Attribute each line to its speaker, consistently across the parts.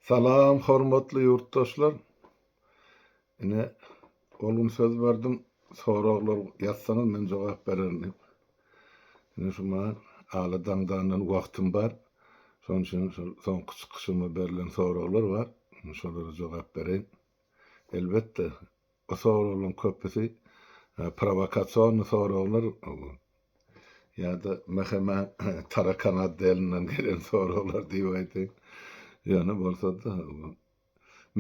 Speaker 1: Salam hormatly ýurtdaşlar. Ine ol gün söz berdim, soraglar ýazsaňyz men jogap bererin diýip. Ine şu maňa ala daňdandan wagtym bar. Şonuň üçin şol soňky çykyşyma berlen soraglar bar. Şolara jogap bereýin. Elbetde Bu soraglaryň köpüsi prowokasion soraglar ýa-da mhma tarakan otdelinden gelen soraglar diýip aýdaýyn. Ýöne bolsa-da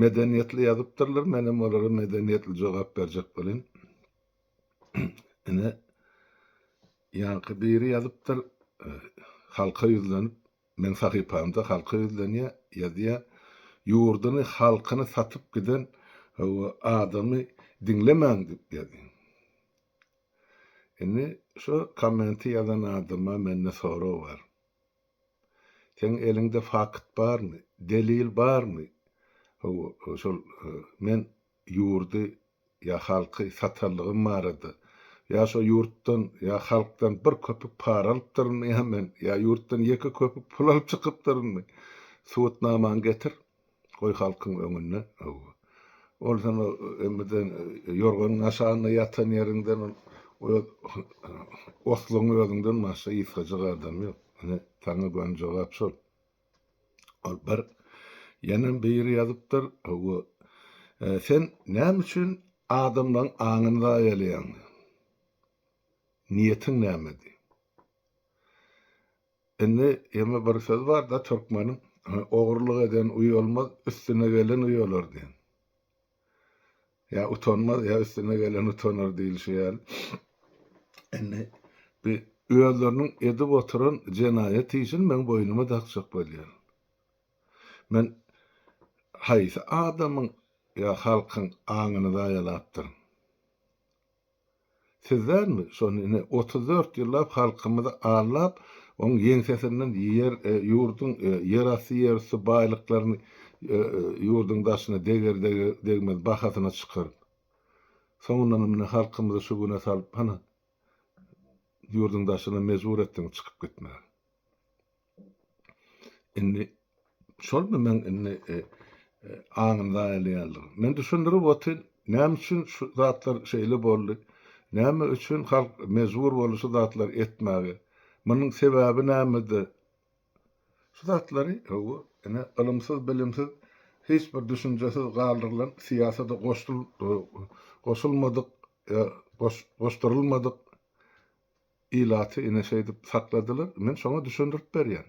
Speaker 1: medeniýetli ýazypdyrlar, men hem olara medeniýetli jogap berjek boleýin. Ine, ýaňky biri ýazypdyr, halka ýüzlenip, Meň sahypamda halka ýüzlenýä ýazýa ýurdyny halkyny satyp giden hawa adamy diňlemäň dip ýazýan. Indi şo kommenti ýazan adama mende sorag bar. Seň eliňde fakt barmy, delil barmy? Hawa şol men ýurdy ýa halky satanlygym barada, ýa şo ýurtdan ýa halkdan bir köpük para alypdyrynmy ýa men, ýa ýurtdan ýeke köpük pul alyp çykypdyrynmy? Subutnamaňy getir, goý halkyň öňünde. Hawa. Ol sen o emmeden ýorganyň aşagynda ýatan ýeriňden ol öz osluň özüňden başga yzkajyk adam ýok. Ine, saňa göni jogap şol. Ol bir ýene biri ýazypdyr, Hawa, sen näme üçin adamlaň aňyny zaýalaýaň? Niýetiň näme diý? Indi ýene bir söz bar-da türkmeniň, Ogurlyk eden uýalmaz, üstüne gelen uýalar diýen. Ýa utanmaz, ýa üstüne gelen utanar diýlişi ýaly. Indi bi özleriniň edip oturan jenaýat işini meň boýnuma dakjak bolýar. Men haýsy adamyň ýa halkyň aňyny zaýalapdyryn? Siz dälmi, şony ine, otuz dört ýyllap halkymyzy aldap, oň ýeňsesinden ýer, ýurduň ýerasty, ýerüsti baýlyklaryny ýurduň daşyna deger-degmez bahasyna çykaryp, soňundanam ine halkymyzy şu güne salyp, hany, ýurduň daşyna mejbur etdiň çykyp gitmäge. Indi şolmy meň indi e, e, aňyny zaýalaýanlygym? Men düşündirip otyryn, näme üçin şu zatlar şeýle boldy? Näme üçin halk mejbur boldy şu zatlary etmäge? Munuň sebäbi nämede? Şu zatlary, hawa, ine, ylymsyz-bilimsiz, hiç bir düşünjesiz galdyrylan, syýasata goşul, e, goşulmadyk, e, goş, goşdurylmadyk Ilaty ine şeýdip sakladylar. Men şoňa düşündirip berýän.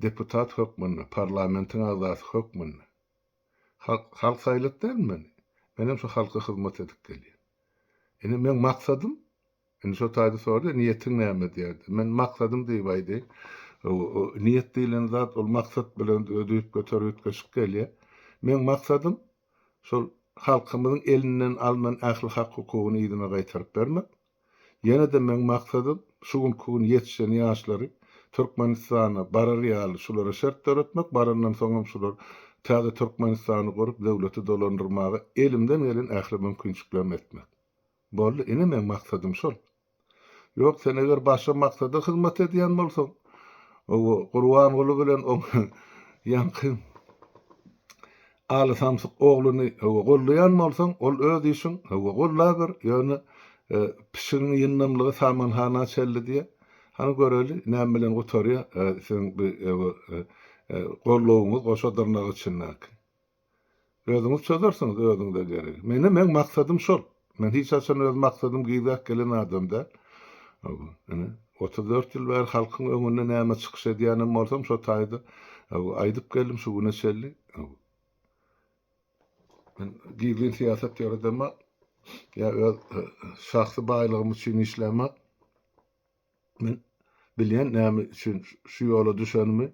Speaker 1: Deputat hökmünde, parlamentiň agzasy hökmünde. Halk, halk saýlap dälmi meni? Menem şu halka hyzmat edip gelýän. Ine meň maksadym, indi şo taýda sorady, niýetiň näme diýerdi. Men maksadym diýip aýdaýyn. O, niýet diýlen zat ol maksat bilen özi üýtgeter üýtgeşik gelýär. Meň maksadym şol halkymyzyň elinden alnan ähli hak-hukugyny yzyna gaýtaryp bermek. Ýene-de meň maksadym şu günki gün ýetişen ýaşlary Türkmenistana barar ýaly şulara şert döretmek, barandan soňam şular täze Türkmenistany gurup, döwleti dolandyrmaga elimden gelen ähli mümkinçiliklerimi etmek. Boldy, ine meň maksadym şol. Ýok, sen eger başga maksada hyzmat edýän bolsaň, o Gurbanguly bilen oň ýaňky Aly samsyk ogluny höwa gollaýan bolsaň ol öz işiň höwa gollaber ýöne pişigiň ýyndamlygy samanhana çelli diýýä hany göreli näme bilen gutarýa siziň bi höwa gollawyňyz goşa dyrnak içindäki. Özüňiz çözersiňiz özüňize geregi. Menem meň maksadym şol. Men hiç haçan öz maksadym gyzak gelen adam däl. Ine, otuz dört ýyl bäri halkyň öňünde näme çykyş edýänem bolsam, şo taýda aýdyp geldim şu güne çenli. Men gizlin syýasat ýöredemak, ýa öz şahsy baýlygym üçin işlämak. Men bilýän näme üçin şu ýola düşenimi.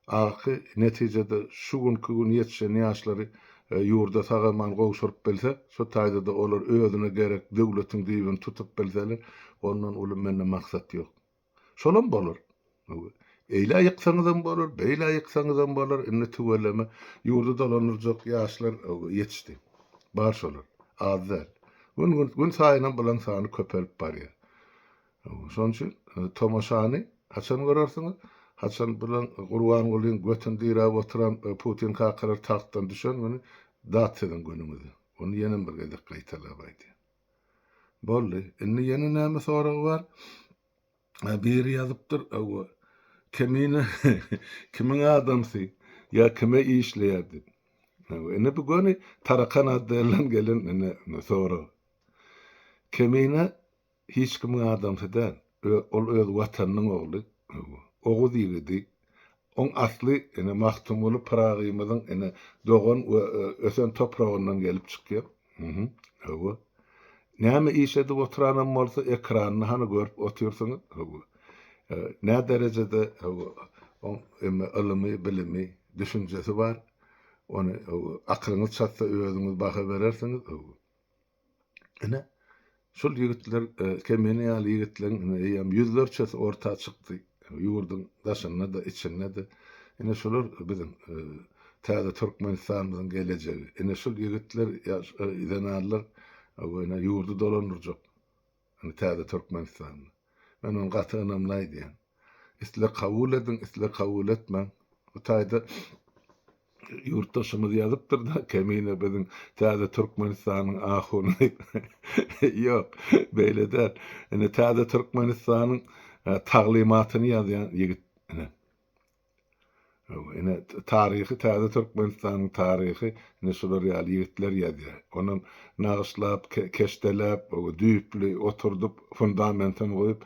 Speaker 1: Aky, netijede, şu günki gün ýetişen ýaşlary ýurda sag-aman gowşuryp bilsek, şu taýda-da olar özüne gerek döwletiň düýbüni tutup bilseler, ondan uly mende maksat ýok. Şolam bolar. Eýle ýyksaňyzam bolar, beýle ýyksaňyzam bolar, indi tüweleme ýurdy dolandyrjak ýaşlar ýetişdi. Bar şolar. Az däl. Gün-gün, günsaýynam bulaň sany köpelip barýar. Şonuň üçin tomaşany haçan görersiňiz? Haçan bilen Gurbangulyň götüni diräp oturan Putin kakalar tagtdan düşen güni dat siziň günüňizi. Ony ýenem bir gezek gaýtalap aýdýan. Boldy. Indi ýene näme soragy bar? Biri ýazypdyr, Hawa, Kemine kimiň adamsy? Ýa kime işleýär diýip. Hawa, indi bu göni Tarakan Addeýelerden gelen indi sorag. Kemine Hiç kimiň adamsy däl. Ol öz Watanynyň ogly. Oguz ýigidi. Oň asly ine Magtymguly Pyragymyzyň ine dogan we ösen topragyndan gelip çykýar. Hawa. Näme iş edip oturanam bolsa ekranda hany görüp otyrsyňyz. Hawa. Nä derejede hawa oň emme ylymy, bilimi, düşünjesi bar. Ony hawa akylyňyz çatsa özüňiz baha berersiňiz. Hawa. Ine, şul ýigitler, e, Kemine ýaly ýigitleriň ine eýýäm ýüzlerçesi orta çykdy. Ýurduň daşynda-da, içinde-de. Ine, şular biziň, e, täze Türkmenistanymyzyň gelejegi. Ine, şul ýigitler, ýaş, e, zenanlar, e, ýurdy dolandyrjak. Indi täze Türkmenistanly. Men ony gaty ynamly aýdýan. Isle kabul ediň, isle kabul etmäň. Bu taýda ýurtdaşymyz ýazypdyr-da, Kemine biziň täze Türkmenistanyň ahuny diýip. Ýok, beýle däl. Indi täze Türkmenistanyň taglymatyny ýazýan ýigit ine. Ýok, ine, taryhy täze Türkmenistanyň taryhy ine şular ýaly ýigitler ýazýar. Onam nagyşlap, keşdeläp, düýpli oturdyp, fundamentini goýup,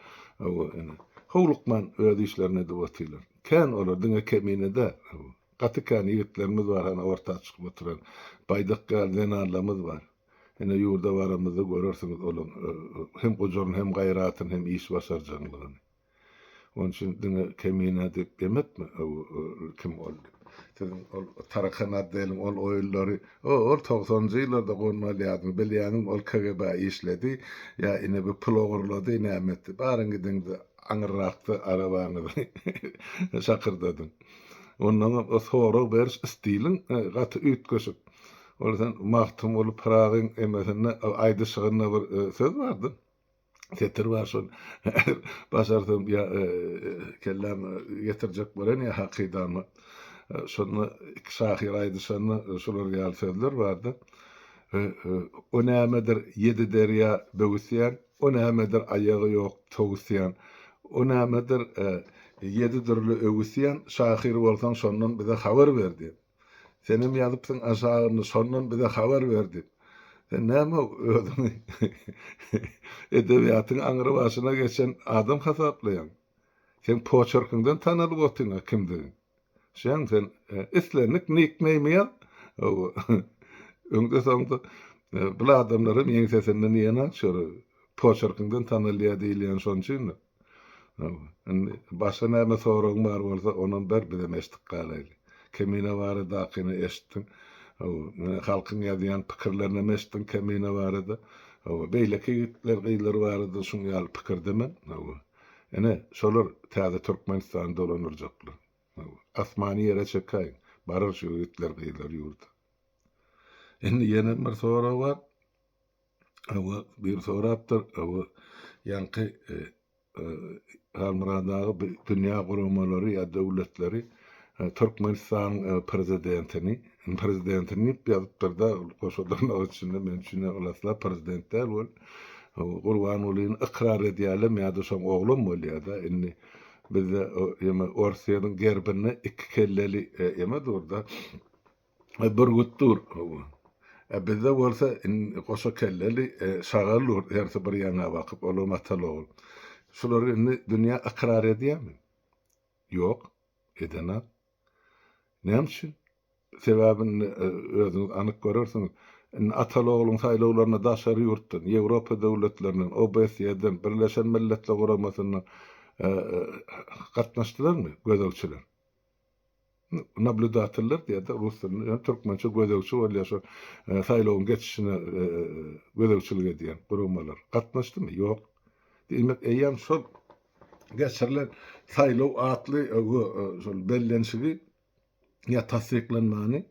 Speaker 1: ine, howlukman öz işlerini edip otyrlar. Kän olar, diňe Kemine däl. Gaty kän ýigitlerimiz bar hany orta çykyp oturan. Baýdak ýaly zenanlarymyz bar. Ine, ýurda baramyzda görersiňiz olaň hem gujuryn, hem gaýratyn, hem iş başarjaňlygyny. Onuň üçin diňe Kemine diýip demekmi? Kim ol? Siziň ol tarakan otdeliň ol oýunlary, o, ol togsanjy ýyllarda gonma alýardyň, bilýäňizmi, ol KGB-a işledi, ýa ine bir pul ogurlady, näme etdi. Baryň gidiň-de, aňyrrakda arabaňyzy şakyrdadyň. Onnoň hem o sorag beriş stiliň gaty üýtgeşik. Ol sen Magtymguly Pyragyň emesinde, aýdyşygynda bir söz bar-da, Setir bar şol. Başarsam ya e, kelläm getirjek bolan ya hakydamy. E, şonda iki şahyr aýdyşanda e, şolar ýaly sözler bardy. E, e, o nämedir ýedi derýa böwüsýän, o nämedir aýagy ýok towusýan. O nämedir e, ýedi dürli öwüsýän, şahyr bolsaň şondan bize habar ber diýen. Senem ýazypsyň aşagyny şondan bize habar ber diýip. Sen näme özüňi edebiýatyň aňry başyna geçen adam hasaplaýaň? Seň poçerkiňden tanalyp otyňa kimdigiň. Şeň sen islendik nikneými ýaz. Hawa. Öňde soňda bul adamlaram ýeňsesinden ýeňaç ýörer. Poçerkiňden tanalýar diýilýäni şon üçin-de. Indi başga näme soragyň bar bolsa, onam ber, bizem eşidip galaýly. Kemine baradakyny eşitdiň. Hawa, muny halkyň ýazýan pikirlerinden eşitdiň Kemine barada. Hawa, beýleki ýigitler, gyzlar barada şuň ýaly pikirdemen. Hawa. Ine, şolar täze Türkmenistany dolanyrjaklar. Hawa, asmany ýere çekäýiň, barar şu ýigitler, gyzlar ýurda. Indi ýenem bir sorag bar. Hawa, biri sorapdyr, hawa, ýaňky e, e, Halmyrat aga bi- dünýä guramalary ýa döwletleri e, Türkmenistanyň e, prezidentini, prezidentini diýip ýazypdyr-da, goşa dyrnak içinde, men üçin hem ylaslap prezident däl ol. O, Gurbangulyny ykrar edýärlem ýa-da şoň oglam bolýar-da, indi bizde o, ýeme Orsiýanyň gerbinde iki kelleli e, ýeme dur-da. bürgüt dur. Ä bizde bolsa goşa kelleli şagal dur, hersi bir ýaňa bakyp, olam ataly-ogul. Şulary indi dünýä ykrar edýärmi? Ýok, edenok. Näme üçin? Sebäbi indi özüňiz anyk görersiňiz. Indi ataly-ogluň saýlawlaryna daşary ýurtdan, Ýewropa döwletlerinden, OBSE-den, Birleşen Milletler Guramasyndan gatnaşdylarmy gözegçiler? Nablýudateller diýerdi rus dilinde, ýöne türkmençe gözegçi bolýar şo saýlawyň geçişine gözegçilik edýän guramalar. Gatnaşdymy? Ýok. Diýmek, eýýäm şol geçirilen saýlaw atly şol bellenişigi ýa tassyklanmany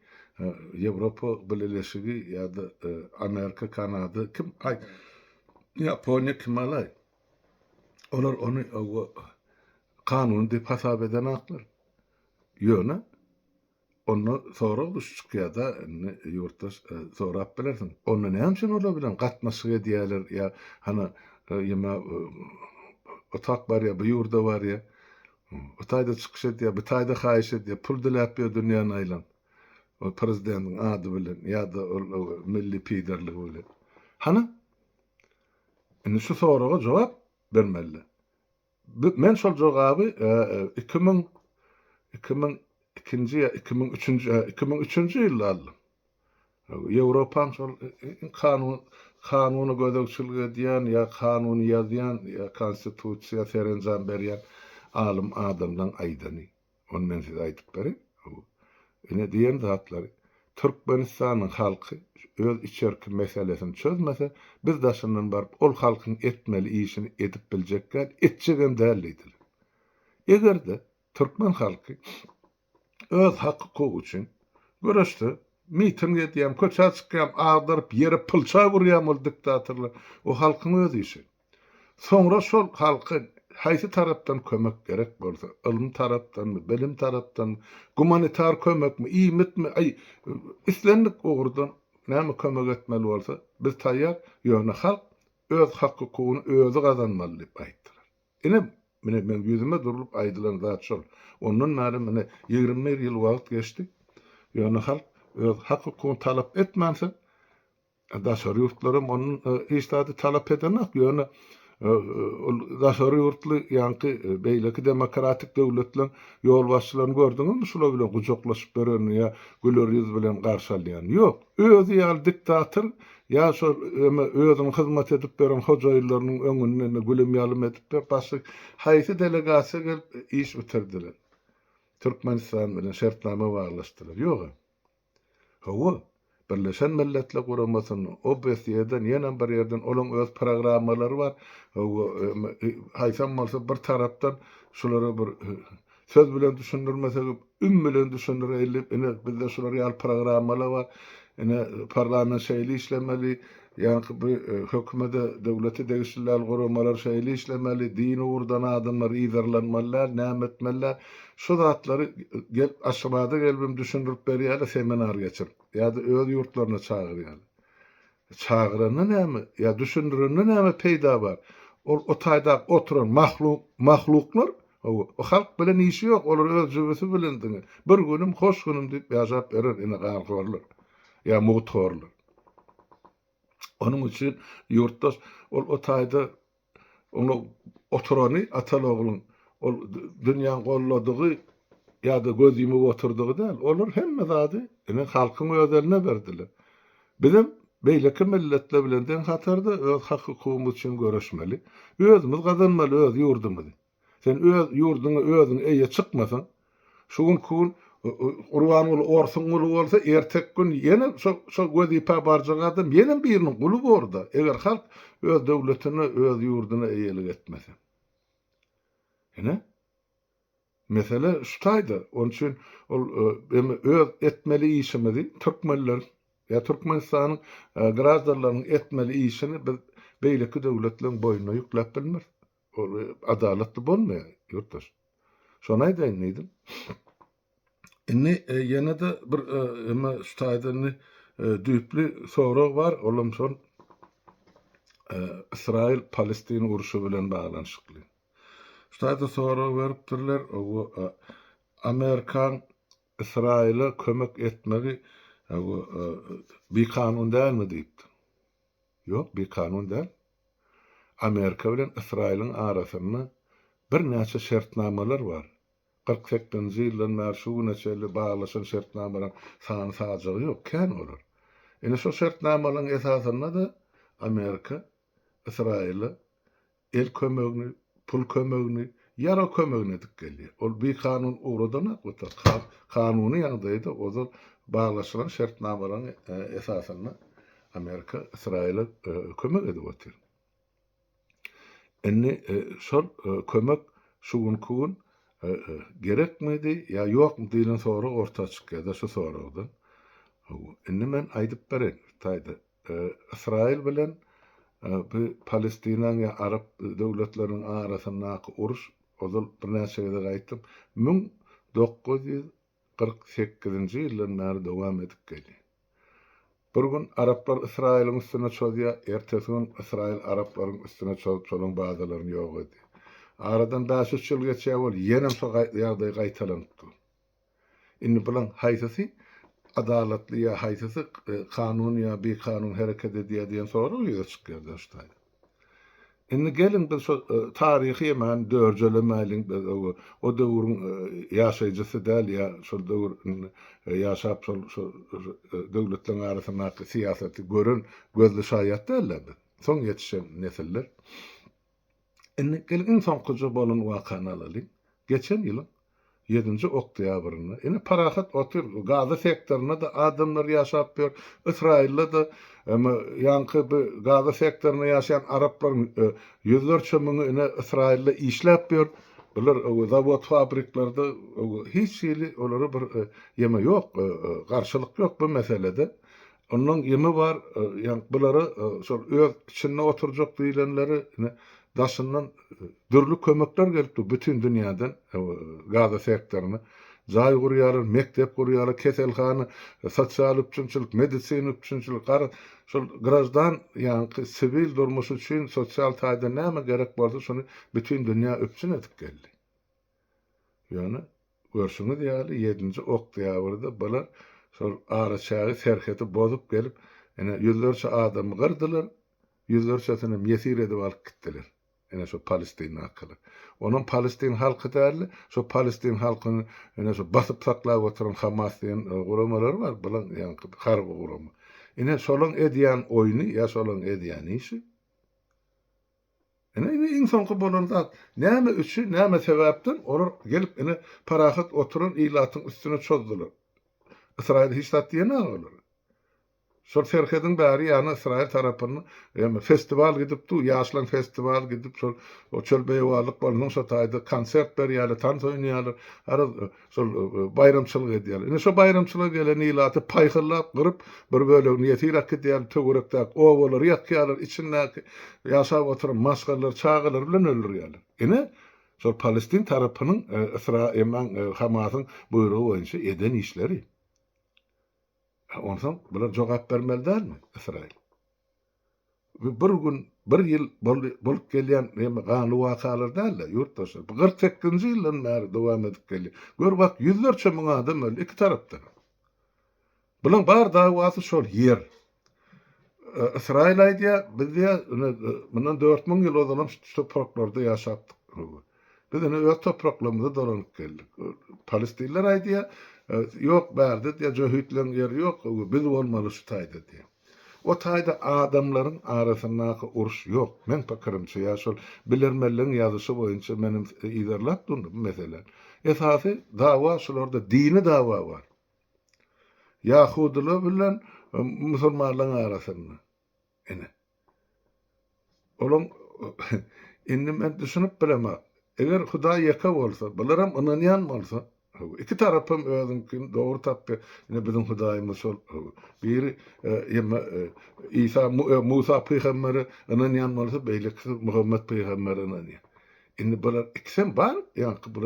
Speaker 1: Ýewropa Bileleşigi ýa-da Amerika, Kanada kim aý Ýaponiýa kim alaý? Olar ony kanuny diýip hasap edenaklar. Ýöne onda sorag düş çykýarda indi ýurtdaş sorap bilersiň. Onda näme üçin olar bilen gatnaşyk edýärler ýa hany ýa otak barýa bu ýurda barýa o taýda çykyş edýä bu taýda haýyş edýä pul diläp ýör dünýäni aýlap ol prezidentiň ady bilen ýa-da ol milli piderligi bilen hany indi şu soraga jogap bermeliler Bi, men şol jogaby, e, iki müň, iki müň ikinji ýa iki müň üçünji, hä, iki müň üçünji ýylda aldym. Haw, Ýewropaň şol i, i, i, kanun, kanuny gözegçilik edýän ýa kanuny ýazýan ýa konstitusiýa serenjam berýän alym adamlaň aýdany. Ony men size aýdyp bereýin. Ine diýen zatlary Türkmenistanyň halky öz içerki meselesini çözmese, biz daşyndan baryp ol halkyň etmeli işini edip biljek däl, etjegem däl diýdiler. Eger-de türkmen halky öz hak-hukugy üçin göreşse, miting edýäm, köçä çykýam, agdaryp ýere pylça urýam ol diktatorlar, o halkyň öz işi. Soňra şol halka haýsy tarapdan kömek gerek bolsa, ylym tarapdanmy, bilim tarapdanmy, gumanitar kömekmi, iýmitmi, aý, islendik ugurdan näme kömek etmeli bolsa, biz taýýar, ýöne halk öz hak-hukugyny özi gazanmaly diýip aýtdylar. Ine, mine, meň ýüzüme durlup aýdylan zat şol. Ondan bäri, mine, ýigrimi bir ýyl wagt geçdi, ýöne halk öz hak-hukugyny talap etmänsoň, Daşary ýurtlaram onuň hiç zady talap edenok, ýöne ol daşary ýurtly ýaňky beýleki demokratik döwletleriň ýolbaşçylaryny gördüňizmi şular bilen gujaklaşyp ýörenini ýa güler ýüz bilen garşy alýanyny? Ýok. Özi ýaly diktator ýa şol eme özüniň hyzmat edip ýören hojaýynlarynyň öňünde gülüm-ýalym edip ýör. Başga haýsy delegasiýa gelip iş bitirdiler? Türkmenistan bilen şertnama baglaşdylar? Ýog-a. Hawa, Birleşen Milletler Guramasynda, OBSE-den, ýene bir ýerden olaň öz programmalary bar. Hawa, haýsam bolsa bir tarapdan şulara bir söz bilen düşündirmesegem, üm bilen düşündireýin diýip, ine, bizde şular ýaly programmalar bar. Ine, parlament şeýle işlemeli, Ýagny bu hökümede, döwlete degişli däl guramalar şeýle işlemeli, din ugurdan adamlar yzarlanmaly däl, näme etmeli däl. Şu zatlary gelip Aşgabada gelibem düşündirip berýärler, seminar geçirip ýa-da öz ýurtlaryna çagyrýarlar. Çagyranda näme, ýa düşündirende näme peýda bar? Ol o taýdaky oturan mahluk, mahluklar, hawa, o halk bilen işi ýok, olar öz jübüsi bilen diňe bir günüm, hoş günüm diýip ýaşap ýörer ine ganhorlar, ýa mugt horlar. Onuň üçin ýurtdaş ol o taýda oňa oturany Atalogluň ol dünýäň goldadygy ýa-da göz ýumup oturdygy däl. Olar hemme zady ine halkyň öz eline berdiler. Bizem beýleki milletler bilen deň hatarda öz hak-hukugymyz üçin göreşmeli. Özümiz gazanmaly öz ýurdumyzy. Sen öz ýurduňa özüň eýe çykmasaň, şu günki gün Gurbanguly orsuň guly bolsa, erteki gün ýene şo wezipä barjak adam ýene biriniň guly bor-da, eger halk öz döwletine, öz ýurduna eýelik etmese. Ine, mesele şu taýda. Onuň üçin ol emme öz etmeli işimizi, türkmenleriň ýa Türkmenistanyň graždanlarynyň etmeli işini biz beýleki döwletleriň boýnuna ýükläp bilmeris. Ol adalatly bolmaýar, ýurtdaş. Şony aýdaýyn diýdim. Indi ýene-de bir emma şu taýdan indi düýpli sorag bar, olam şol Ysraýyl-Palestina urşy bilen baglanyşykly. Şu taýda sorag beripdirler, owo Amerikaň Ysraýyla kömek etmegi owo bikanun dälmi diýipdir. Ýok, bikanun däl. Amerika bilen Ysraýylyň arasynda birnäçe şertnamalar bar. Kyrk sekizinji ýyldan bäri şu güne çenli baglaşan şertnamalaryň sany-sajagy ýok, kän olar. Ine şo şertnamalaryň esasynda-da Amerika Ysraýyla el kömegini pul kömegini, ýarag kömegini edip gelýär. Ol bikanun ugradanok beter, kanuny ýagdaýda ozal baglaşylan şertnamalaryň esasynda Amerika Ysraýyla kömek edip otyr. Indi şol kömek şu günki gün gerekmidi ýa ýokmy diýlen sorag orta çykýar-da şu soragdan. Indi men aýdyp bereýin, Hytaýda Ysraýyl bilen bu Palestinaň ýa arap döwletleriniň arasyndaky uruş, ozal birnäçe gezek aýtdym, müň dokuz ýüz kyrk sekizinji ýyldan bäri dowam edip gelýär. Bir gün araplar Ysraýylyň üstüne çozýar, ertesi gün Ysraýyl araplaryň üstüne çozup, şolaryň bazalaryny ýok edýär. Aradan bäş-üç ýyl geçýär, ýenem şo ýagdaý gaýtalanyp dur. Indi bulaň haýsysy adalatly ýa haýsysy kanun ýa bikanun hereket edýär diýen sorag ýüze çykýar döşdaý. Indi geliň biz şo taryhy hemen dörjelemäýliň biz o o döwrüň ýaşaýjysy däl ýa şol döwür ýaşap şol şo döwletleriň arasyndaky syýasaty gören gözli şaýat däl-de biz. Soň ýetişen nesiller. Indi geliň iň soňkuja bolan wakany alalyň. Geçen ýylyň ýedinji oktýabrynda, ine, parahat otyr, Gaza sektorynda-da adamlar ýaşap ýör, Ysraýylda-da, emma ýaňky bi Gaza sektorynda ýaşaýan araplaryň ýüzlerçe müňi, ine, Ysraýylda işläp ýör. Bular zawod-fabriklerde hiç hili olara bir ýeme ýok, garşylyk ýok bu meselede. Onnoň ýymy bar, ýa bulara şol öz içinde oturjak diýlenleri ine daşyndan dürli kömekler gelip dur, bütin dünýäden Gaza sektoryna jaý gurýarlar, mekdep gurýarlar, keselhana, sosial üpjünçilik, medisina üpjünçilik, garaz, şol graždan ýaňky siwil durmuş üçin sosial taýdan näme gerek bolsa, şony bütin dünýä üpjün edip geldi. Ýöne, görşüňiz ýaly, ýedinji oktýabrda bular şol araçägi, serheti bozup gelip, ine, ýüzlerçe adamy gyrdylar, ýüzlerçesinem ýesir edip alyp gitdiler. Ine, şo palestindakylar. Onam palestin halky däl-de, şo palestin halkyny, ine, şo basyp saklap oturan Hamas diýen guramalary bar, bulaň ýaňky harby gurama. Ine, şolaň edýän oýny ýa şolaň edýän işi. Ine, indi iň soňky bolan zat, näme üçin, näme sebäpden olar gelip, ine, parahat oturan ilatyň üstüne çozdular? Ysraýyl hiç zat diýemä olar. Şol serhediň bäri ýany Ysraýyl tarapynda ýa-da festiwal gidip dur, ýaşlaryň festiwaly gidip, şol çöl beýewarlyk bolansoň, şo taýda konsert berýärler, tans oýnaýarlar. Garaz, Şol baýramçylyk edýärler. Ine şo baýramçylyga gelen ilaty paýhyrlap, gyryp, bir bölegini ýesir akidýärler, töwerekdäki obalary ýakýarlar, içindäki ýaşap oturan maşgalalary, çagalary bilen öldürýärler. Ine, şol palestin tarapynyň Ysra eman Hamasyň buýrugy boýunça eden işleri. Onsoň bular jogap bermeli dälmi, Ysraýyl? Bir gün, bir ýyl boldy, bolup gelýän ýene ganly wakalar däl-de, ýurtdaşlar. Bu kyrk sekizinji ýyldan bäri dowam edip gelýär. Gör, bak, ýüzlerçe müň adam öldi iki tarapdan. Bulaň bar dawasy şol ýer. Ysraýyl aýdýar, biz diýýär, ine, mundan dört müň ýyl ozalam şu topraklarda ýaşapdyk. Biz ine öz topraklarymyza dolanyp geldik. Palestinler aýdýar, ýok, bärde diýýär, jöhitleň ýeri ýok, biz bolmaly şu taýda diýýär. O taýda adamlaryň arasyndaky uruş ýok. Meň pikirimçe, ýa şol bilermenleň ýazyşy boýunça menem yzarlap durdum bu meseläni. Esasy dawa şularda dini dawa bar. Ýahudylar bilen musulmanlaryň arasynda. Ine. Olam Indi men düşünip bilemok. Eger Hudaý ýeke bolsa, bularam ynanýan bolsa, iki tarapam özüňkini dogry tapdy. Ine biziň Hudaýymyz şol. Biri Ýa Isa Musa pygambere ynanýan bolsa, beýlekisi Muhammet pygambere ynanýar. Indi bular ikisem bar ýaňky bu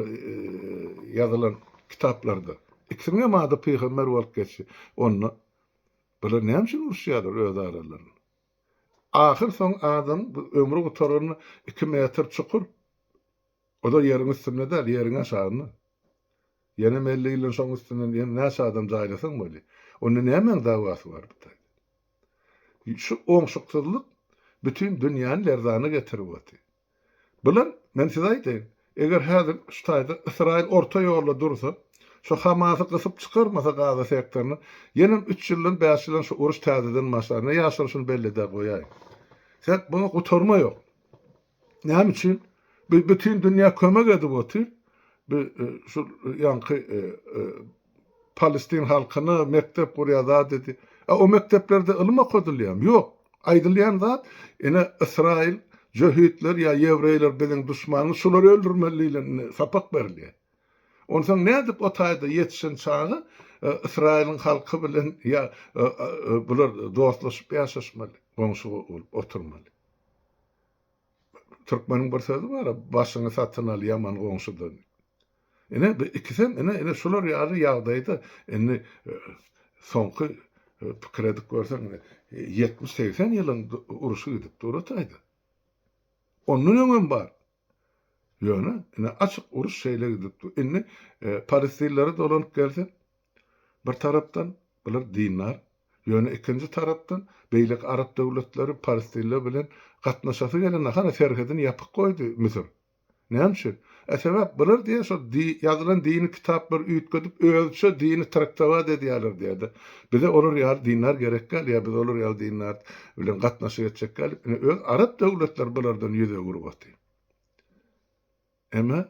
Speaker 1: ýazylan kitaplarda. Ikisiniňem ady pygamber bolup geçdi. Onda bular näme üçin uruşýarlar öz aralarynda? Ahyr soň adam ömri gutaranda iki metr çukur, o-da ýeriň üstünde däl, ýeriň aşagynda. Ýenem elli ýyldan şoň üstünden ýene näçe adam jaýlasaň bolýa. Onda nämäň dawasy bar bu taýda? Şu oňşuksyzlyk bütin dünýäni lerzana getirip otyr. Bular, men size aýdaýyn, eger häzir şu taýda Ysraýyl orta ýolda dursa, şu Hamasy gysyp çykarmasa Gaza sektoryny, ýenem üç ýyldan bäş ýylan şu uruş täzeden başlar. Ne ýaşar şuny bellidä goýaýyn. Sebäp muňa gutarma ýok. Näme üçin? Bütin dünýä kömek edip otyr. Şu ýaňky Palestin halkyna mekdep gurýar zat edýär. A o mekdeplerde ylym okadylýarmy? Ýok. Aýdylýan zat, ine Ysraýyl, jöhitler ýa ýewreýler biziň duşmanymyz, şulary öldürmeli diýlen sapak berilýär. Onsoň nädip o taýda ýetişen çaga Ysraýylyň halky bilen ýa bular dostlaşyp ýaşaşmaly, goňşy bolup oturmaly. Türkmeniň bir sözi bar-a, başyňy satyn al ýaman goňşudan. Ine, bu ikisem, ine, ine şular ýaly ýagdaýda indi soňky pikir edip görseň, ine, ýetmiş-segsen ýylyň urşy gidip dur-a taýda. Ondan öňem bar. Ýöne, ine, açyk uruş şeýle gidip dur. Indi palestinlere dolanyp gelsek, bir tarapdan bular dindar, ýöne ikinji tarapdan beýleki arap döwletleri palestinler bilen gatnaşasy gelenok. Hany, serhedini ýapyk goýdy Müsür. Näme üçin? E sebäp bular diýýär şol ýazylan dini kitaplary üýtgedip özüçe dini traktować edýärler diýýärdi. Bize olar ýaly dindar gerek däl ýa biz olar ýaly dindar bilen gatnaşyk etjek däl diýip ine öz arap döwletleri bulardan ýüz öwürip otyr. Emma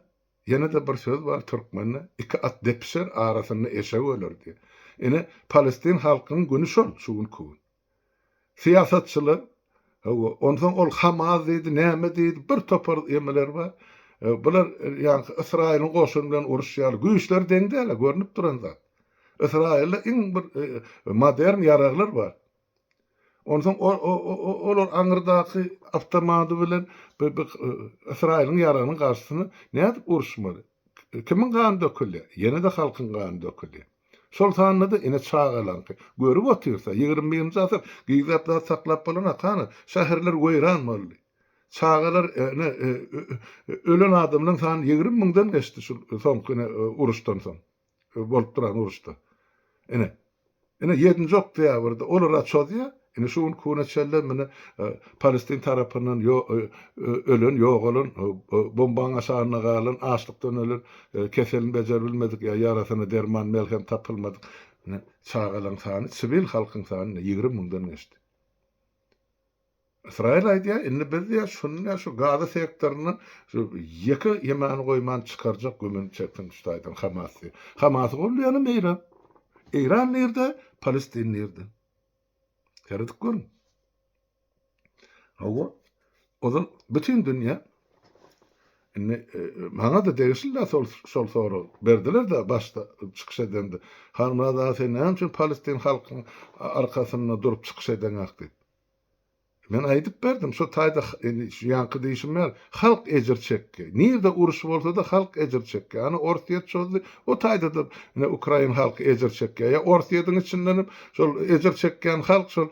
Speaker 1: ýene-de bir söz bar türkmende iki at depişer arasynda eşek öler diýip. Ine palestin halkynyň güni şol şu günki gün. Syýasatçylar, Hawa, onsoň ol Hamas diýdi, näme diýdi, bir topar emeler bar. Bular, ýagny Ysraýylyň goşuny bilen uruşýarlar. Güýçleri deň däl-ä, görnüp duran zat. Ysraýylda iň bir modern ýaraglar bar. Onsoň olar aňyrdaky awtomady bilen Ysraýylyň ýaragynyň garşysyna nädip uruşmaly? Kimiň gany döküldi? Ýene-de halkyň gany döküldi. Şol sanda-da ene çagalaňky. Görüp otyrsa, ýigrimi birinji asyr gyzlap zat saklap bolana hany, şäherler weýran boldy. Çagalar ene ölen adamlaň sany ýigrimi müňden geçdi şul soňky ene uruşdan soň. bolup duran uruşda. Ine, ine ýedinji oktýabrda olara çozýar, ine şu gün kune çenli mine palestin tarapyndan ölen, ýogalan, bombaň aşagynda galan, açlykdan ölen, keselini bejerip bilmedik ýa ýarasyna derman, melhem tapylmadyk çagalaň sany, siwil halkyň sany ýigrimi müňden geçdi. Ysraýyl aýdýar, indi biz diýýär, şuny diýýär, şu Gaza sektoryndan şu ýeke ýemany goýman çykarjak gümüni çeksin şu taýdan Hamas diýip. Hamasy goldaýanam Eýran. Eýran nirde, Palestin nirde? Seredip görüň. Hawa, ozal bütin dünýä indi maňa-da degişli-de şol şol sorag berdiler-de başda çykyş edende. Halmyrat aga sen näme üçin Palestin halkyň arkasynda durup çykyş edeňok diýip. Men aýdyp berdim, şo taýda şu ýaňky diýşim ýaly, halk ejir çekdi. Nirde uruş bolsa-da halk ejir çekýär. Ana Orsýet çozdy, o taýda-da ine ukrain halky ejir çekýär. Ýa Orsýetiň içinden hem şol ejir çekýän halk şol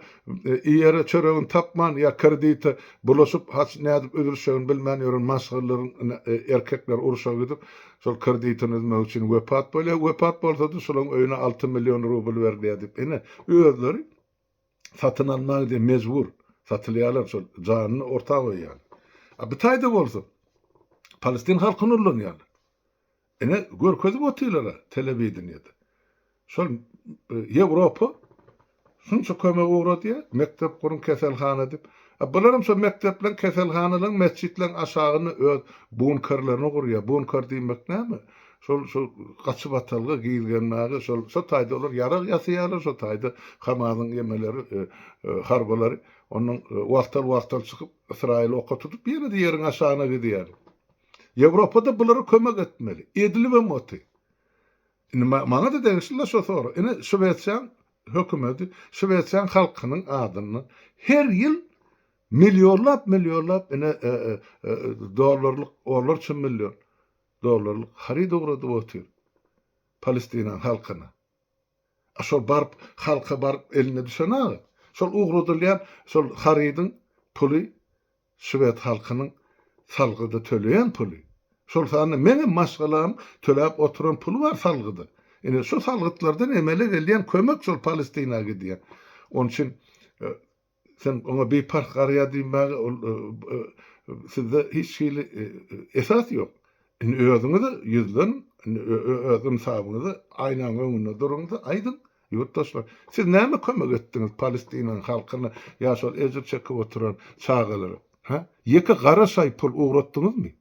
Speaker 1: iýere çöregini tapman ýa kredite bulaşyp haç nädip üzülişegini bilmän ýören maşgallaryň ine erkekleri urşa gidip şol kreditini üzmek üçin wepat bolýar. Wepat bolsa-da şolaryň öýüne alty million rubl berilýär diýip ine özleri satyn almaga diýip mejbur satylýarlar şol janyny orta goýýarlar. A bu taýda bolsa palestin halkyny ullanýarlar. Ine görkezip otyrlar-a telewideniýede. Şol Ýewropa şunça kömek ugradýar, mekdep guruň, keselhana diýip. A bularam şol mekdepleriň, keselhanalaryň, metjitleriň aşagyna öz bunkerlerini gurýar. Bunker diýmek näme? Şol şol gaçyp atalga gizgenmäge şol şo taýda olar ýarag ýasaýarlar şo taýda kamazyň emeleri e, e, harbylary ondan e, wagtal wagtal çykyp ysraýyl oka tutup ýene-de ýeriň aşagyna gidýär. Ýewropada bulara kömek etmeli. Edilibem oty. Indi maňa da degişli şo sor. Ine Şwesiýaň hökümeti, Şwesiýaň halkynyň adyndan her ýyl millionlap millionlap ine e, e, e, dollarlyk olar üçin million Dollarlyk haryt ugradyp otyr Palestinaň halkyna. A şol baryp halka baryp eline düşen aga. Şol ugradylýan şol harydyň puly şwed halkynyň salgyda töleýän puly. Şol sanda meňem maşgalam töläp oturan puly bar salgyda. Ine şu salgytlardan emele gelýän kömek şol Palestina gidýär. Onçin Sen oňa biparh garaýar diýmäge ol sizde hiç hili esas ýok. Indi özüňiz-ä ýüzleniň, indi öz ynsabyňyzy aýnaň öňünde duruň-da aýdyň, ýurtdaşlar, siz näme kömek etdiňiz Palestinanyň halkyna ýa şol ejir çekip oturan çagalara, hä? Ýeke gara şaý pul ugratdyňyzmy?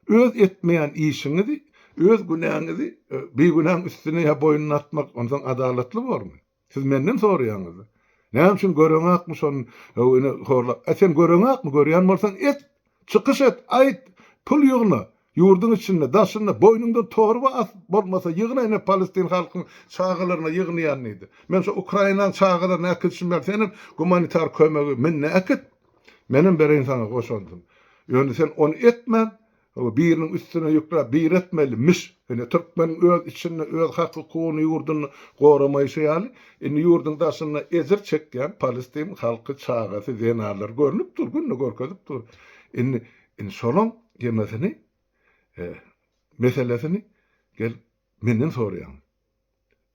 Speaker 1: Öz etmeýän işiňizi, öz günäňizi bigünäň üstüne ýa boýnuna atmak onsoň adalatly bormy? Siz menden soraýaňyz. Näme üçin göreňakmy şon ine horla. Ä sen göreňakmy görýän bolsaň et. Çykyş et, aýt, pul ýygna. Ýurduň içinde, daşynda, boýnuňdan torba as bolmasa ýygna ine palestin halkyň çagalaryna ýygnaýan diýdi. Men şo ukrainaň çagalaryny äkidişim bar senem gumanitar kömegi minne äkit. Menem bereýin saňa goşandym. Ýöne sen ony etmän Hawa biriniň üstüne ýükläp bir etmeli miş. Ine türkmeniň öz içinde öz hak hukugyny ýurduny goramaýşy ýaly indi ýurduň daşynda ejir çekýän palestin halky çagasy zenanlary görünip dur günde görkezip dur indi indi şolaň ýemesini e meselesini gelip menden soraýaňyz.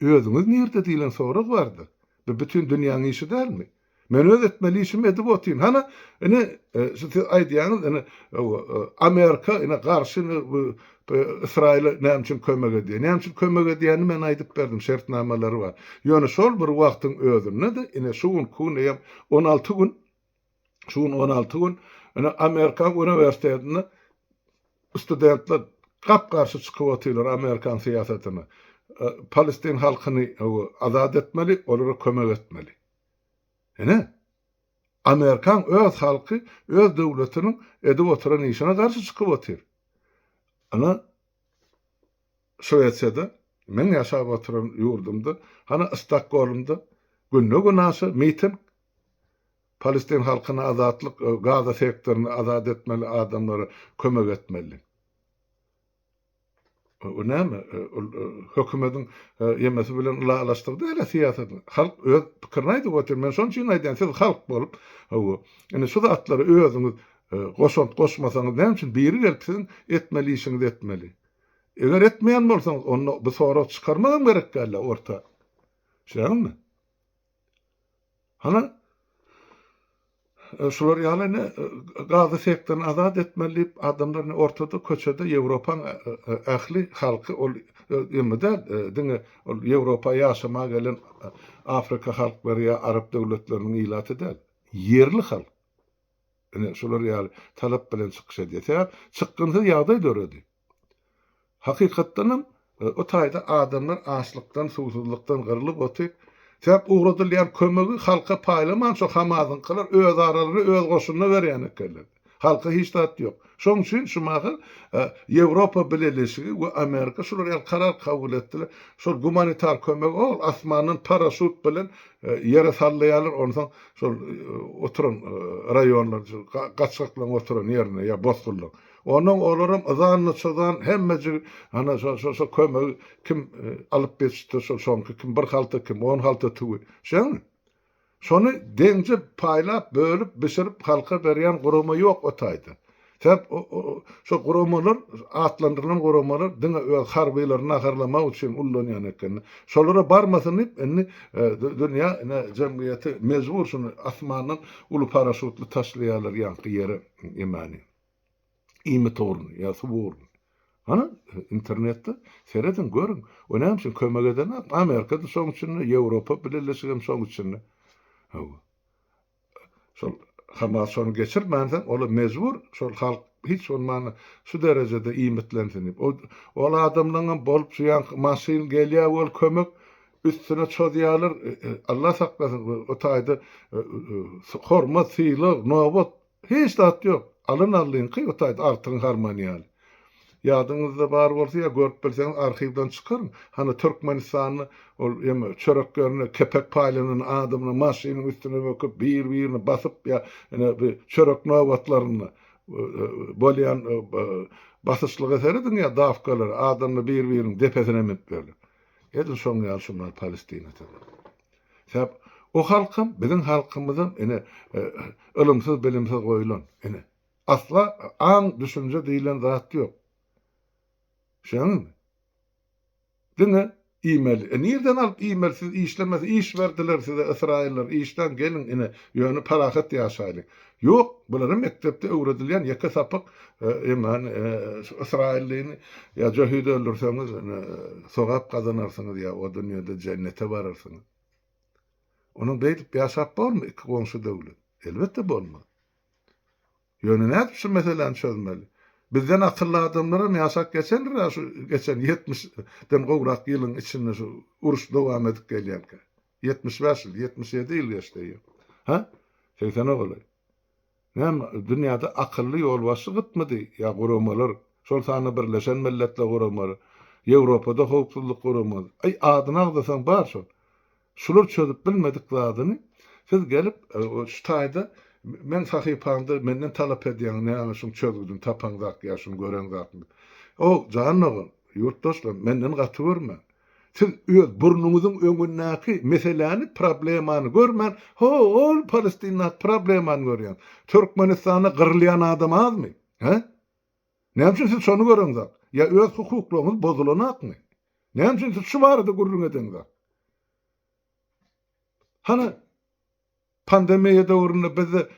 Speaker 1: Özüňiz nirde diýlen sorag bardy. Bu bütin dünýäň işi dälmi? Men öz etmeli işimi edip otyryn. Hany, ine, şu siz aýdýaňyz, ine, Amerika, ine, garşy, ine, bu Ysraýyla näme üçin kömek edýär? Näme üçin kömek edýänini men aýdyp berdim, şertnamalary bar. Ýöne şol bir wagtyň özünde-de, ine, şu günki gün eýýäm on alty gün, Şu gün on alty gün ine Amerikan uniwersitetinde studentler gap garşy çykyp otyrlar Amerikan syýasatyna. Palestin halkyny azat etmeli, olara kömek etmeli. Ine Amerikan öz halky öz döwletiniň edip oturan işine garşy çykyp otyr. Ine Şwesiýada meň ýaşap oturan ýurdumda, hany Stokgolmda günde günaşa miting Palestin halkyna azatlyk Gaza sektoryny azat etmeli adamlara kömek etmeli. Bu näme? Ol hökümediň ýemesi bilen ylalaşdygy dälä syýasat. Halk öz pikirini aýdyp otyr. Men şoň üçin aýdýan siz halk bolup hawa. Indi şu zatlary özüňiz goşant goşmasaňyz näme üçin biri gelip siziň etmeli işiňizi etmeli. Eger etmeýän bolsaňyz onda bu sorag çykarmak hem gerek dälä orta. Şeýdäňizmi? Hany, şular ýaly indi gazy sekden azat etmeli diýip, adamlar indi ortada, köçede Ýewropaň ähli halky, ol ýöne däl, diňe ol Ýewropa ýaşamaga gelen Afrika halklary ýa arap döwletleriniň ilaty däl, ýerli halk indi şular ýaly talap bilen çykyş edýär. Sebäbi çykgynsyz ýagdaý döredi. Hakykatdanam, o taýda adamlar açlykdan, suwsuzlykdan gyrlyp otyr. Sebäp ugradylýan kömegi halka paýlaman şo Hamazyňkylar özaralary öz goşunyna berýän ekenler. Halka hiç zat ýok. Şoň üçin şu mahal Ýewropa Bileleşigi we Amerika şular ýaly karar kabul etdiler. Şol gumanitar kömegi ol asmandan paraşut bilen ýere sallaýarlar, onsoň şol oturan raýonlar, gaçgaklaryň oturan ýerine ýa bosgunlaryň. Ondan olaram yzan-nyçyzan hemmejigi ana şo-şo kömegi kim alyp geçipdir, şo soňky kim bir halta, kim on halta tüwi. Şeňňi? Şony deňje paýlap, bölüp, bişirip halka berýän gurama ýok o taýda. Sebäp şo guramalar, atlandyrylan guramalar diňe öz harbylary naharlamak üçin ullanýan ekenler. Şolara barmasyn diýip, indi dünýä jemgyýeti mejbur şuny asmandan uly paraşutly taşlaýarlar ýaňky ýere emänýin. Iýmit ugruna ýa suw ugruna. Hany, internetde serediň, görüň. We näme üçin kömek edenok? Amerika-da şoň içinde, Ýewropa Bileleşigem şoň içinde. Hawa. Şol Hamas şony geçirmänsoň, olar mejbur, şol halk hiç bolmanda şu derejede iýmitlensin diýip. O, ol adamlaňam bolup, şu ýaňky maşyn gelýär wol kömek, üstüne çozýarlar, Allah saklasyn, o taýda hormat, sylag, nobat, Hiç zat ýok. Alyn Allyňky bu taýda Artygyň harmany ýaly. Ýadyňyzda bar bolsa ýa görüp bilseňiz arhiwden çykaryň. Hany Türkmenistanly ol ýeme çörek ýerinde kepek paýlanan adamyny maşynyň üstüne böküp bir birini basyp ýa ene bir çörek nobatlarynda bolýan basyşlyga serediň ýa dawkalara adamlar bir biriniň depesine minip ýörler. Edil şoň ýaly şunlar Palestina tada. Sebäp o halkam biziň halkymyzam ine ylymsyz bilimsiz goýulan ine. Asla aň düşünje diýilen zat ýok. Şeňňimi? Diňe iýmeli. E nirden alyp iýmeli siz işlemesi iş berdiler size ysraýyllar işläň geliň ine ýöne parahat ýaşaýlyň. Ýok, bulara mekdepde öwredilýän ýeke sapak iman ysraýyllyny ýa jöhit öldürseňiz sogap gazanarsyňyz ýa o dünýede jennete bararsyňyz. Onuň beýdip ýaşap bormy iki goňşy döwlet? Elbetde bolmaz. Ýöne nädip şu meseläni çözmeli? Bizden akylly adamlaram ýaşap geçendiräşu geçen ýetmiş den gowrak ýylyň içinde şu uruş dowam edip gelýänkä. Ýetmiş bäş ýyl, ýetmiş ýedi ýyl geçdi eýýäm. Hä? Segsene golaý. Näme, dünýäde akylly ýolbaşçy gytmydy? Ýa guramalar, şol sanda Birleşen Milletler Guramasy, Ýewropada Howpsuzlyk Guramasy. Aý, adyny agzasaň bar şol. Şular çözüp bilmedik zadyny siz gelip, şu taýda meň sahypamda menden talap edýäňiz, näme şuň çözgüdini tapaň zat ýa şuny göreň zatmy? O, jan dogan, ýurtdaşlar, menden gaty görmäň. Siz öz burnuňyzyň öňündäki meseläni, problemany görmän, hol Palestindaky problemany görýäňiz. Türkmenistanda gyrylýan adam azmy? Hä? Näme üçin siz şony göreňzok? Ýa öz hukuklaryňyz bozulanokmy? Näme üçin siz şu barada gürrüň edeňzok? Hany, Pandemiýa döwründe bizde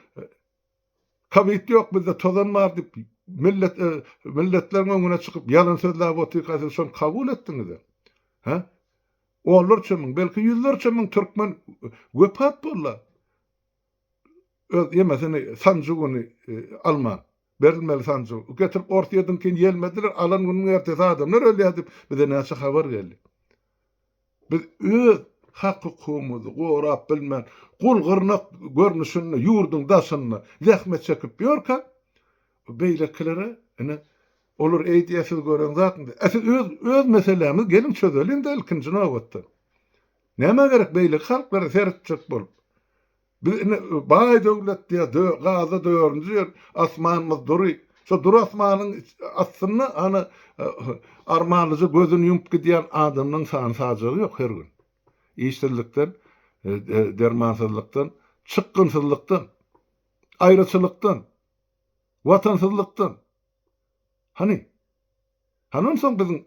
Speaker 1: Kowid ýok, bizde tozan bar diýip, millet milletleriň öňüne çykyp ýalan sözläp otyrka siz şony kabul etdiňizem. Hä? Onlarça müň, belki ýüzlerçe müň türkmen wepat bollar. Öz ýemesini sanjy güni alman. Berilmeli sanjygy getirip orta ediňkin ýelmediler, alan günüň ertesi adamlar ölýär diýip bize näçe habar geldi. Biz öz hak-hukugymyzy gorap bilmän, gul gyrnak görnüşinde ýurduň daşynda zähmet çekip ýörkä, beýlekilere ine, olar eýdýär siz gören zatmy? Ä siz öz öz meselämizi geliň çözeliň-de ilkinji nobatda. Nämä gerek beýleki halklara seretjek bolup? Biz indi baý döwletliýe, dö, gaza dördünji ýer, asmanymyz dury. Şo dury asmanyň astynda hany armanlyja gözüni ýumup gidýän adamlaň sany-sajagy ýok her gün. Işsizlikden, dermansyzlykdan, çykgynsyzlykdan, aýraçylykdan, watansyzlykdan. Hany? Hany onsoň biziň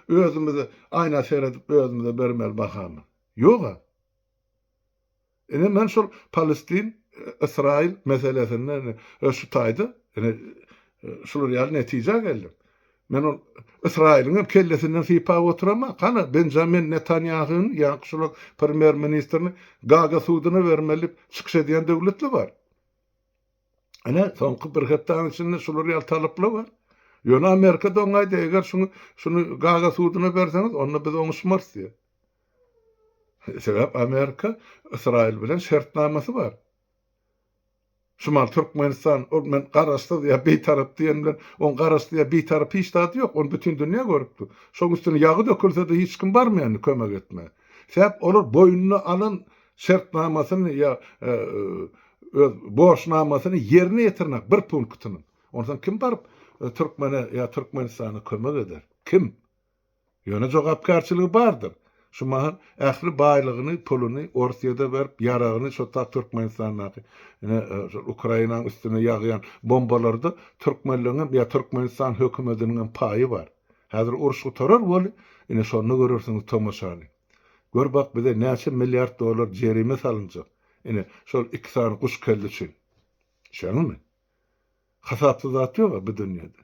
Speaker 1: özümize aýna seredip özümize bermeli bahamyz? Ýog-a. Ine men şol Palestin, Ysraýyl meselesinde ine şu taýda ine şular ýaly netijä geldim. Men ol Ysraýylyň hem kellesinden sypap oturamok. Hany Benjamin Netanýahyny ýa-da şol premýer ministrini Gaga suduna bermeli diýip çykyş edýän döwletli bar. Ine soňky bir hepdäniň içinde şular ýaly talaplar bar. Ýöne Amerika doňaýdy eger şuny şuny Gaga suduna berseňiz onda biz oňuşmarys diýýär. Sebäp Amerika Ysraýyl bilen şertnamasy bar. Şumal Türkmenistan ol men garaşsyz ýa bitarap diýen bilen oň garaşdy ýa bitarap hiç zady ýok. Ony bütin dünýä görüpdi. Şoň üstüne ýagy dökülsede hiç kim barmaýandy kömek etmä. Sebäp olar boýnuna alan şertnamasyny ýa öz borçnamasyny ýerine ýetirmek bir punktynyň. Onsoň kim baryp Türkmene ýa Türkmenistana kömek eder? Kim? Ýöne jogapkärçiligi bardyr. Şu mahal ähli baýlygyny, puluny Orsyýada berip, ýaragyny şo ta Türkmenistandaky, ine, şol Ukrainanyň üstüne ýagýan bombalarda türkmenleňem ýa Türkmenistan hökümetiniňem paýy bar. Häzir uruş gutarar weli, ine, şonda görersiňiz tomaşany. Gör bak, bize näçe milliard dollar jerime salynjak, ine, şol iki sany guş kelle üçin. Düşeňizmi? Hasapsyz zat ýog-a bu dünýede.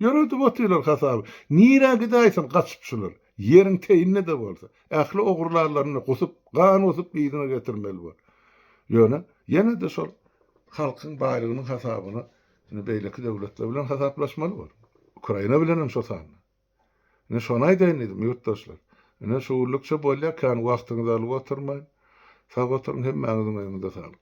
Speaker 1: Ýöredip otyrlar hasaby. Nirä gidäýsin gaçyp şular. Ýeriň teýinde-de bolsa, ähli ogurlarlaryny gusup, gan gusup yzyna getirmeli bol. Ýöne, ýene-de şol halkyň baýlygynyň hasabyna indi beýleki döwletler bilen hasaplaşmaly bol. Ukraina bilenem şo sanda. Ine, şony aýdaýyn diýdim, ýurtdaşlar. Ine, şu günlükçe bolýa, kän wagtyňyzy alyp oturmaýyn. Sag oturyň, hemmäňiziň öýüňize saglyk.